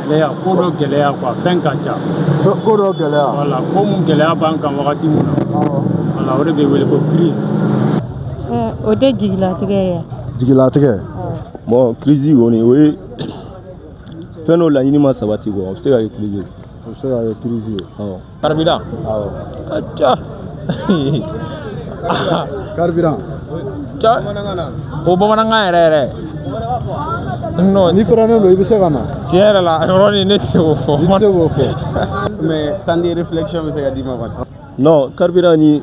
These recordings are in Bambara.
Gɛlɛya ko dɔ gɛlɛya quoi fɛn ka ca ko dɔ gɛlɛya voilà ko min gɛlɛya b'an kan wagati min na o de bɛ wele ko crise o tɛ jigilatigɛ ye jigilatigɛ bon crise kɔni o ye fɛn dɔ laɲini ma sabati quoi o bɛ se ka kɛ crise ye o bɛ se ka kɛ crise ye carburant awɔ aca carburant o bamanankan yɛrɛ yɛrɛ non n'i kɔrɔnen don i bɛ se ka na tiɲɛ yɛrɛ la yɔrɔnin ne tɛ se k'o fɔ i tɛ se k'o fɔ mais temps de réflexion bɛ se ka d'i ma quoi non carburant ni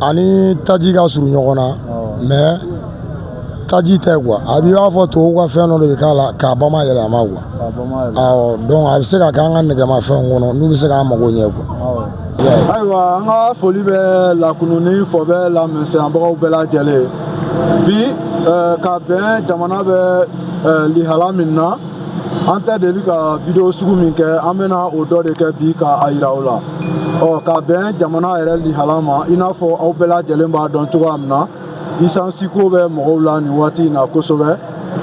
ani taji ka surun ɲɔgɔn na mais taji tɛ quoi a b'i b'a fɔ tubabuw ka fɛn dɔ de bɛ k'a la k'a bamayɛlɛma quoi awɔ donc a bɛ se ka kɛ an ka nɛgɛmafɛnw kɔnɔ n'u bɛ se k'an mago ɲɛ quoi ayiwa an ka foli bɛ lakununi fɔ bɛ lamɛnbagaw bɛɛ lajɛlen bi ka bɛn jamana bɛ lihala min na an tɛ deli ka video sugu min kɛ an bɛna o dɔ de kɛ bi ka a yira aw la ɔ ka bɛn jamana yɛrɛ lihala ma i n'a fɔ aw bɛɛ lajɛlen b'a dɔn cogoya min na esansi ko bɛ mɔgɔw la nin waati in na kosɛbɛ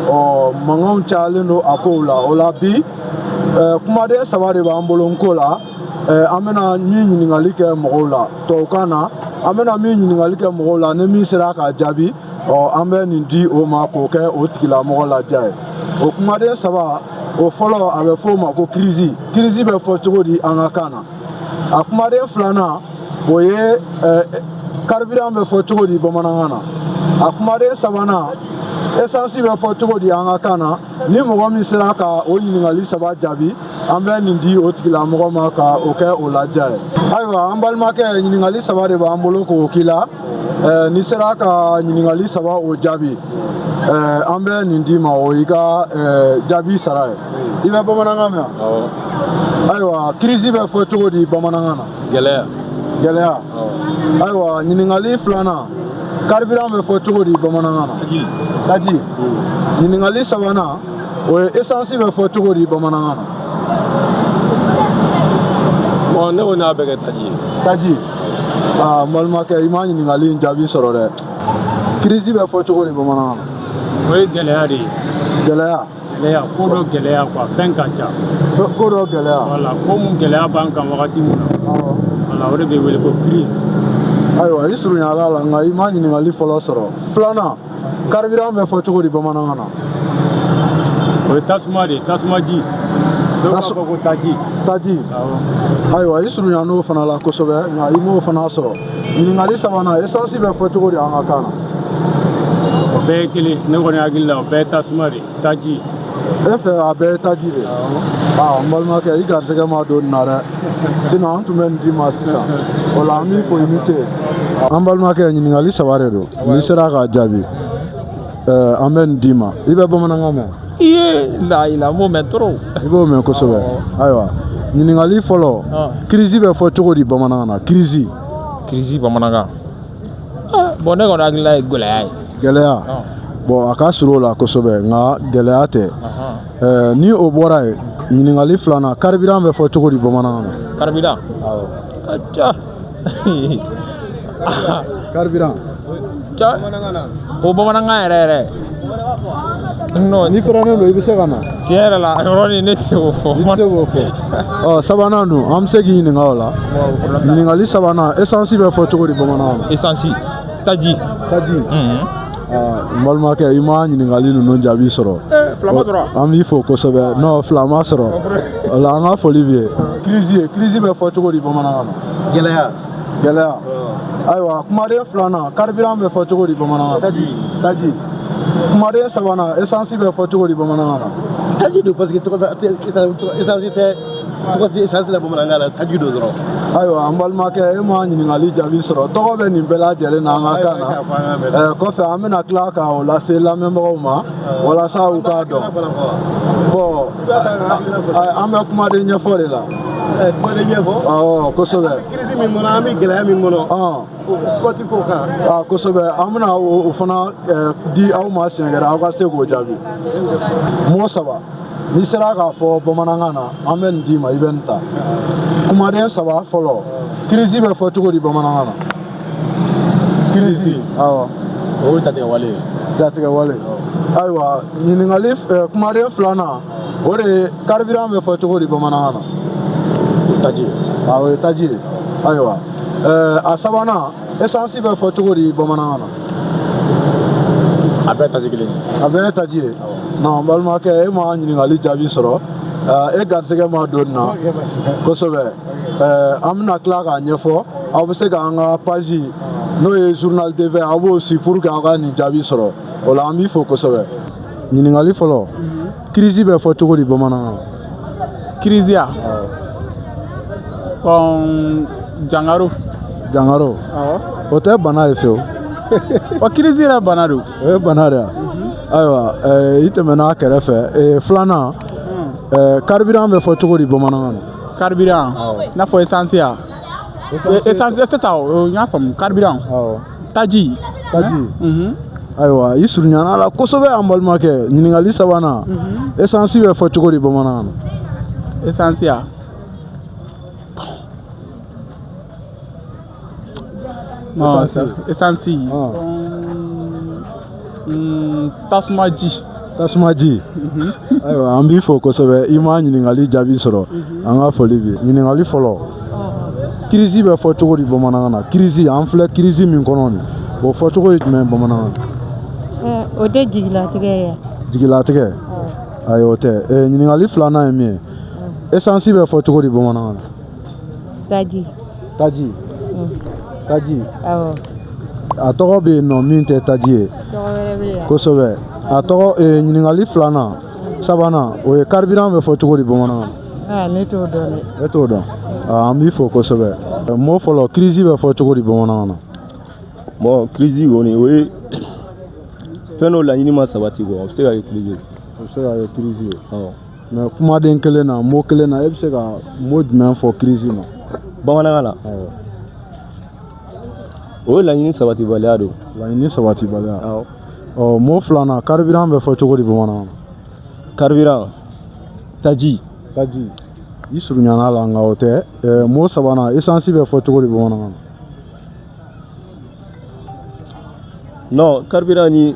ɔ mankanw cayalen don a kow la o la bi kumaden saba de b'an bolo n ko la an bɛna min ɲininkali kɛ mɔgɔw la tubabukan na an bɛna min ɲininkali kɛ mɔgɔw la ni min sera k'a jaabi ɔ an bɛ nin di o ma k'o kɛ o tigilamɔgɔ ladiya ye o kumaden saba o fɔlɔ a bɛ fɔ o ma ko kirisi kirisi bɛ fɔ cogo di an ka kan na a kumaden filanan o ye karibiran bɛ fɔ cogo di bamanankan na a kumaden sabanan esansi bɛ fɔ cogo di an ka kan na ni mɔgɔ min sera ka o ɲininkali saba jaabi an bɛ nin di o tigilamɔgɔ ma ka o kɛ o ladiya ye ayiwa an balimakɛ ɲininkali saba de b'an bolo k'o k'i la eh, n'i sera ka ɲininkali saba o jaabi eh, an bɛ nin d'i ma o y'i ka eh, jaabi sara ye i bɛ bamanankan mɛn ayiwa kirisi bɛ fɔ cogo di bamanankan na gɛlɛya gɛlɛya ayiwa ɲininkali filanan karibiran bɛ fɔ cogo di bamanankan na taji ɲininkali sabanan o ye esansi bɛ fɔ cogo di bamanankan na bɔn ne kɔni y'a bɛɛ kɛ taji ye taji aa n balimakɛ i ma ɲininkali in jaabi sɔrɔ dɛ kirisi bɛ fɔ cogo di bamanankan na o ye gɛlɛya de ye gɛlɛya Gɛlɛya ko dɔ gɛlɛya quoi fɛn ka ca ko dɔ gɛlɛya voilà ko min gɛlɛya b'an kan wagati min na o de bɛ wele ko crise ayiwa i surunyala a la nka i ma ɲininkali fɔlɔ sɔrɔ filanan carburant bɛ fɔ cogo di bamanankan na o ye tasuma de ye tasumaji taji taji ayiwa i surunyan'o fana la kosɛbɛ nka i m'o fana sɔrɔ ɲininkali sabanan esansi bɛ fɔ cogo di an ka kan na o bɛɛ ye kelen ne kɔni hakili la o bɛɛ ye tasuma de taji e fɛ a bɛɛ ye taji de aa n balimakɛ i garisɛgɛ ma don nin na dɛ sinɔn an tun bɛ nin d'i ma sisan o la an b'i fo i ni ce an balimakɛ ɲininkali saba de don n'i sera k'a jaabi an bɛ nin d'i ma i bɛ bamanankan mɛn i ye layila n b'o mɛn trop i b'o mɛn kosɛbɛ ayiwa ɲininkali fɔlɔ kirisi bɛ fɔ cogo di bamanankan na kirisi kirisi bamanankan bɔn ne kɔni hakilila ye gɛlɛya ye gɛlɛya bɔn a ka surun o la kosɛbɛ nka gɛlɛya tɛ ni o bɔra yen ɲininkali filanan karibiran bɛ fɔ cogo di bamanankan na karibiran karibiran o bamanankan yɛrɛ yɛrɛ n'i kurannen don i bɛ se ka na tiɲɛ yɛrɛ la yɔrɔnin ne tɛ se k'o fɔ i tɛ se k'o fɔ ɔ sabanan dun an bɛ se k'i ɲininka o la ɲininkali sabanan esansi bɛ fɔ cogo di bamanankan na esansi taji taji n balimakɛ i ma ɲininkali ninnu jaabi sɔrɔ an b'i fo kosɛbɛ non fila ma sɔrɔ o la an ka foli b'i ye kirisi bɛ fɔ cogo di bamanankan na gɛlɛya gɛlɛya ayiwa kumaden filanan karibiran bɛ fɔ cogo di bamanankan na taji kumaden sabanan esansi bɛ fɔ cogo di bamanankan na taji don parce que esansi tɛ tɔgɔ tɛ esansi la bamanankan na taji don dɔrɔn ayiwa an balimakɛ e ma ɲininkali jaabi sɔrɔ tɔgɔ bɛ nin bɛɛ lajɛlen na an ka kan na ɛɛ kɔfɛ an bɛna tila ka o lase lamɛnbagaw ma walasa u k'a dɔn bɔn an bɛ kumaden ɲɛfɔ de la kumaden ɲɛfɔ awɔ kosɛbɛ kirisi min kɔnɔ an bɛ gɛlɛya min kɔnɔ tɔgɔ tɛ fɔ o kan aa kosɛbɛ an bɛna o fana di aw ma siɲɛ wɛrɛ aw ka se k'o jaabi mɔgɔ saba n'i sera k'a fɔ bamanankan na an bɛ nin d'i ma i bɛ nin ta kumaden saba fɔlɔ kirisi bɛ fɔ cogo di bamanankan na kirisi awɔ o ye jatigɛwale ye jatigɛwale ayiwa ɲininkali eh, kumaden filanan o de ye karibiran bɛ fɔ cogo di bamanankan na o ye taji ye awɔ o ye taji ye ayiwa eh, a sabanan esansi bɛ fɔ cogo di bamanankan na a bɛɛ taji kelen a bɛɛ taji ye non balimakɛ e ma ɲininkali jaabi sɔrɔ e garisɛgɛ ma don nin na kosɛbɛ an bɛna tila k'a ɲɛfɔ aw bɛ se k'an ka paji n'o ye journal TV aw b'o si pour que aw ka nin jaabi sɔrɔ o la an b'i fo kosɛbɛ ɲininkali fɔlɔ kirisi bɛ fɔ cogo di bamanankan na crise jangaro jangaro o tɛ bana ye fewu ɔ crise yɛrɛ bana don o ye bana de ayiwa i tɛmɛna a kɛrɛfɛ filanan carburant bɛ fɔ cogo di bamanankan na carburant i n'a fɔ essence essence sisan n y'a faamu carburant taji taji ayiwa i surunyana la kosɛbɛ an balimakɛ ɲininkali sabanan essence bɛ fɔ cogo di bamanankan na essence a essence tasumaji tasumaji mhm. ayiwa an b'i fo kosɛbɛ i ma ɲininkali jaabi sɔrɔ mhm. an ka foli bi ɲininkali fɔlɔ oh. crise bɛ fɔ cogo di bamanankan na crise an filɛ crise min kɔnɔ nin o fɔcogo ye jumɛn bamanankan na eh, o tɛ jigilatigɛ ye jigilatigɛ oh. ayi o tɛ eh, ɲininkali filanan ye min ye essence bɛ fɔ cogo di bamanankan na Taji. Taji. Mm. Taji. Awɔ. A tɔgɔ bɛ yen nɔ min tɛ taji ye. Tɔgɔ wɛrɛ bɛ yen. Kosɛbɛ. A tɔgɔ ee, eh, ɲininkali filanan sabanan o ye carburant bɛ fɔ cogo di bamanankan na. Aa ne t'o dɔn dɛ. E t'o dɔn. Aa an b'i fo kosɛbɛ. Mot fɔlɔ crise bɛ fɔ cogo di bamanankan na. Bon crise kɔni o ye fɛn dɔ laɲini ma sabati quoi o bɛ se ka kɛ crise ye. O bɛ se ka kɛ crise ye. Awɔ. mais kumaden kelen na mot kelen na e bɛ se ka mot jumɛn fɔ crise ma bamanankan na o ye laɲini sabatibaliya don laɲini sabatibaliya ɔ mot filanan carburant bɛ fɔ cogo di bamanankan na carburant taji taji i surunyana la nka o tɛ mot sabanan essence bɛ fɔ cogo di bamanankan na non carburant ni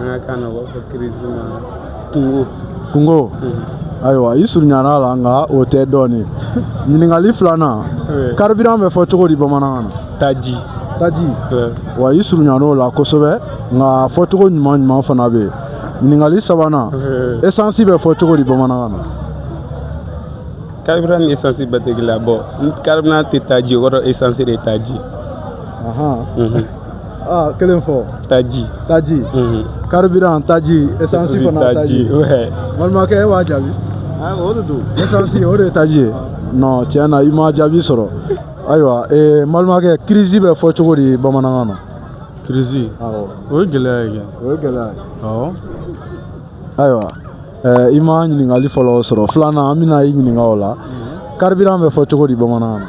an ka kan na ko kunko kunko ayiwa i surunyana la nka o tɛ dɔɔnin ɲininkali filanan carburant bɛ fɔ cogo di bamanankan na taji taji wa i surunyana o la kosɛbɛ nka a fɔcogo ɲuman ɲuman fana bɛ yen ɲininkali sabanan essence bɛ fɔ cogo di bamanankan na carburant ni essence bɛɛ tɛ kelen ye bon carburant tɛ taji o kɔrɔ essence de taji aa kelen fɔ taji taji carburant taji essence fana taji balimakɛ e b'a jaabi o de don essence o de ye taji ye non tiɲɛ na i ma jaabi sɔrɔ ayiwa ee balimakɛ crise bɛ fɔ cogo di bamanankan na crise o ye gɛlɛya ye kɛ o ye gɛlɛya ye awɔ ayiwa ɛɛ i ma ɲininkali fɔlɔ sɔrɔ filanan an bɛna i ɲininka o la carburant bɛ fɔ cogo di bamanankan na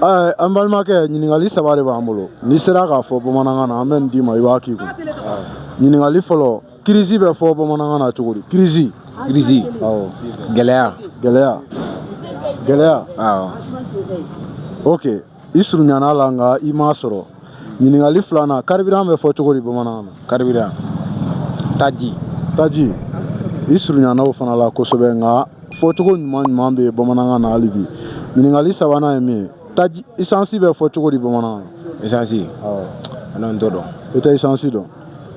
Ɛɛ an balimakɛ ɲininkali saba de b'an bolo n'i sera k'a fɔ bamanankan na an bɛ nin d'i ma i b'a k'i kun ɲininkali fɔlɔ crise bɛ fɔ bamanankan na cogo di crise crise awɔ gɛlɛya gɛlɛya gɛlɛya awɔ ok i surunyana la nka i m'a sɔrɔ ɲininkali filanan karibiran bɛ fɔ cogo di bamanankan na karibiran taji taji i surunyana o fana la kosɛbɛ nka fɔcogo ɲuman ɲuman bɛ bamanankan na hali bi ɲininkali sabanan ye min ye taji isansi bɛ fɔ cogo di bamanankan na isansi nɔn n t'o dɔn i tɛ isansi dɔn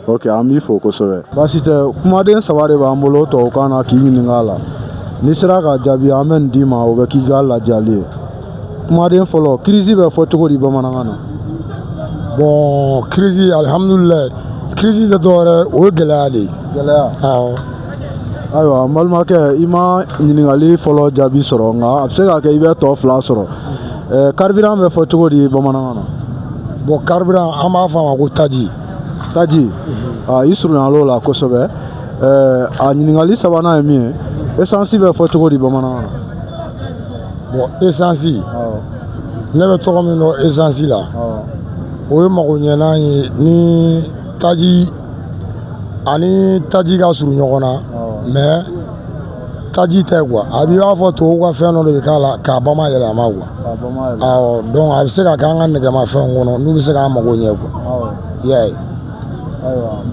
ok an b'i fo kosɛbɛ baasi tɛ kumaden saba de b'an bolo tubabukan na k'i ɲininka a la n'i sera ka jaabi an bɛ nin d'i ma o bɛ k'i ka ladiyali ye kumaden fɔlɔ kirisi bɛ fɔ cogo di bamanankan na bɔn kirisi alihamudulilayi kirisi tɛ dɔwɛrɛ o ye gɛlɛya de ye gɛlɛya awɔ ayiwa n balimakɛ i ma ɲininkali fɔlɔ jaabi sɔrɔ nka a bɛ se ka kɛ i bɛ tɔ fila sɔrɔ karibiran bɛ fɔ cogo di bamanankan na bɔn karibiran an b'a fɔ a ma ko taji taji i surunyal'o la kosɛbɛ a ɲininkali sabanan ye min ye esansi bɛ fɔ cogo di bamanankan na bɔn esansi ne bɛ tɔgɔ min dɔn esansi la o ye magoɲɛnan ye ni taji a ni taji ka surun ɲɔgɔn na mɛ taji tɛ kuwa a b'i b'a fɔ tubabuw ka fɛn dɔ de bɛ k'a la k'a ba mayɛlɛma kuwa dɔn a bɛ se ka k'an ka nɛgɛmafɛnw kɔnɔ n'u bɛ se k'an mago ɲɛ kuwa i y'a ye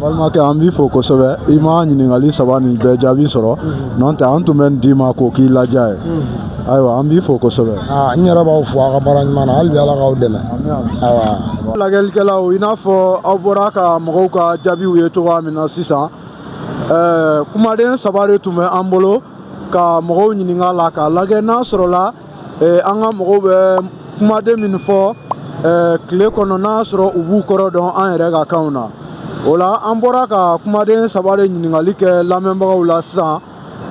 balimakɛ an b'i fo kosɛbɛ i ma ɲininkali saba nin bɛɛ jaabi sɔrɔ mhm. nɔntɛ an tun bɛ nin d'i ma k'o k'i ladiya ye mhm. ayiwa an b'i fo kosɛbɛ n yɛrɛ b'aw fo a ka baara ɲuman na hali bi ala k'aw dɛmɛ lajɛlikɛlaw i n'a fɔ aw bɔra ka mɔgɔw ka jaabiw ye cogoya min na sisan ɛɛ kumaden saba de tun bɛ an bolo ka mɔgɔw ɲininka a la k'a lajɛ n'a sɔrɔla eh, an ka mɔgɔw bɛ kumaden min fɔ eh, tile kɔnɔ n'a sɔrɔ u b'u kɔrɔ dɔn an yɛrɛ ka kanw na o la an bɔra ka kumaden saba de ɲininkali kɛ lamɛnbagaw la sisan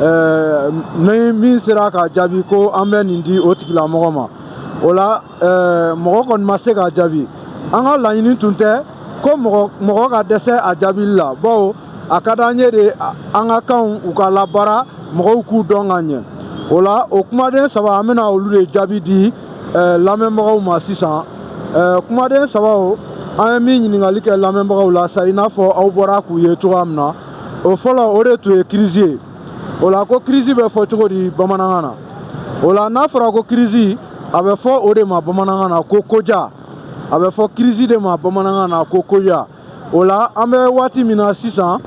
eh, ni min sera ka jaabi ko an bɛ nin di o tigilamɔgɔ ma o la ɛɛ mɔgɔ kɔni ma se k'a jaabi an ka laɲini tun tɛ ko mɔgɔ mɔgɔ ka dɛsɛ a jaabili la bawo a ka d'an ye de an ka kanw u ka labaara mɔgɔw k'u dɔn ka ɲɛ o la o kumaden saba an bɛna olu de jaabi di ɛɛ lamɛnbagaw ma sisan ɛɛ kumaden sabaw an ye min ɲininkali kɛ lamɛnbagaw la sa i n'a fɔ aw bɔra k'u ye cogoya min na o fɔlɔ o de tun ye kirisi ye o la ko kirisi bɛ fɔ cogo di bamanankan na o la n'a fɔra ko kirisi a bɛ fɔ o de ma bamanankan na ko koja a bɛ fɔ kirisi de ma bamanankan na ko koja o la an bɛ waati min na sisan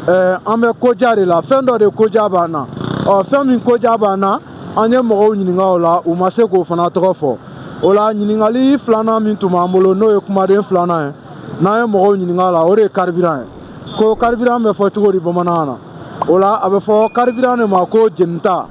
eh, an bɛ koja de la fɛn dɔ de koja b'an na ɔ fɛn min koja b'an na an ye mɔgɔw ɲininka o la u ma se k'o fana tɔgɔ fɔ o la ɲininkali filanan min tun b'an bolo n'o ye kumaden filanan ye n'an ye mɔgɔw ɲininka o la o de ye karibiran ye ko karibiran bɛ fɔ cogo di bamanankan na o la a bɛ fɔ karibiran de ma ko jenita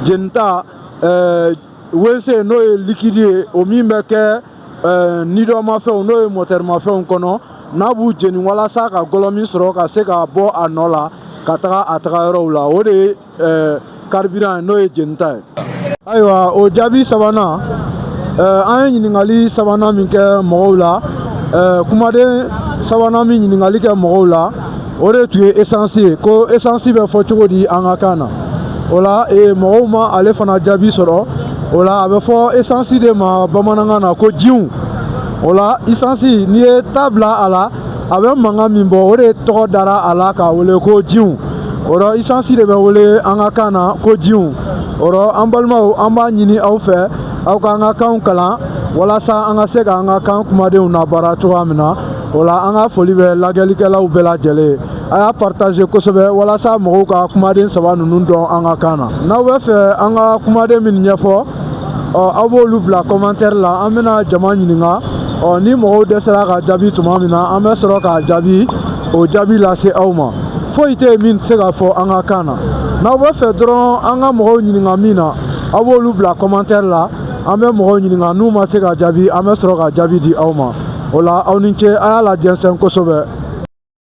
jenita eh, wese n'o ye likidi ye o min bɛ kɛ eh, nidɔnmafɛnw n'o ye mɔtɛrimafɛnw kɔnɔ n'a b'u jeni walasa ka gɔlɔmi sɔrɔ ka se ka bɔ a nɔ la ka taga a taga yɔrɔw la o de ye ɛɛ karibiran n'o ye jenita ye ayiwa o jaabi sabanan ɛɛ an ye ɲininkali sabanan min kɛ mɔgɔw la ɛɛ kumaden sabanan min ɲininkali kɛ mɔgɔw la o de tun ye esansi ye ko esansi bɛ fɔ cogo di an ka kan na o la ee mɔgɔw ma ale fana jaabi sɔrɔ o la a bɛ fɔ esansi de ma bamanankan na ko jiw o la isansi n'i ye ta bila a la a bɛ mankan min bɔ o de tɔgɔ dara a la k'a wele ko jiw o rɔ isansi de bɛ wele an ka kan na ko jiw o rɔ an balimaw an b'a ɲini aw fɛ aw ka an ka kanw kalan walasa an ka se ka an ka kan kumadenw nabaara cogoya min na o la an ka foli bɛ lajɛlikɛlaw bɛɛ lajɛlen ye a y'a partaze kosɛbɛ walasa mɔgɔw ka kumaden saba ninnu dɔn an ka kan na n'aw bɛ fɛ an ka kumaden minnu ɲɛfɔ ɔ aw b'olu bila kɔmantɛri la an bɛna jama ɲininka ɔ ni mɔgɔw dɛsɛra k'a jaabi tuma min na an bɛ sɔrɔ k'a jaabi o jaabi lase aw ma foyi tɛ yen min tɛ se ka fɔ an ka kan na n'aw bɛ fɛ dɔrɔn an ka mɔgɔw ɲininka min na aw b'olu bila kɔmantɛri la an bɛ mɔgɔw ɲininka n'u ma se k'a jaabi an bɛ sɔrɔ ka jaabi di aw ma o la aw ni ce a y'a lajɛnsɛn kosɛbɛ